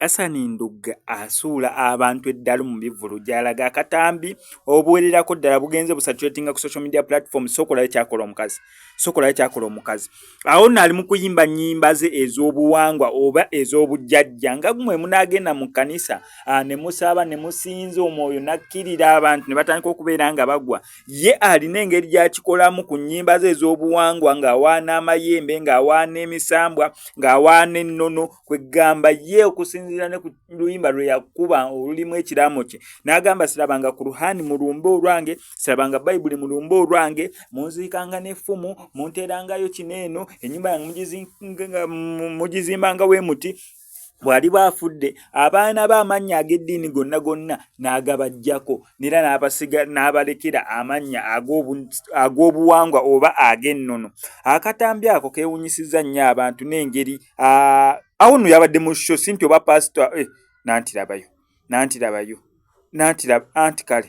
Asani Ndugga asuula abantu eddalu mu bivvulu gy'alaga akatambi obuwererako ddala bugenze busatulatinga ku social media platform sookola ekyakola omukazi sokola yakyakola omukazi awo nno ali mu kuyimba nyimba ze ez'obuwangwa oba ez'obujjajja nga gumwe munagenda mu kkanisa ah, ne musaaba ne musinza omwoyo nakkirira abantu ne batandika okubeera nga bagwa ye alina engeri gyakikolamu ku nyimba ze ez'obuwangwa ng'awaana amayembe ng'awaana emisambwa ng'awaana ennono kwegamba ye okusinziira ne ku luyimba lwe yakuba olulimu ekiraamo kye n'agamba sirabanga ku ruhani mulumbe olwange sirabanga bayibuli mu lumba olwange munziikanga n'effumu munteerangayo kino eno ennyumba yange mugizimbanga we muti bwali bwafudde abaana be amannya ag'eddiini gonna gonna n'agabajjako nera n'abasiga n'abalekera amannya ag'obuwangwa oba ag'ennono akatambi ako keewunyisizza nnyo abantu n'engeri awo no yabadde mu sho sinti oba pasita eh, nantirabayo nantirabayo nantira anti kale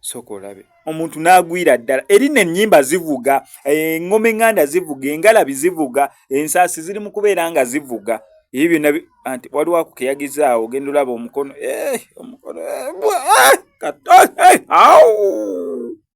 soka olabe omuntu n'agwira ddala eri nenyimba zivuga eŋoma eh, eŋŋanda zivuga engalabi zivuga ensaasi ziri mu kubeera nga zivuga ebyo byonna anti waliwo akukeyagizaawo ogenda olaba omukono eh, omukono eh, kato awo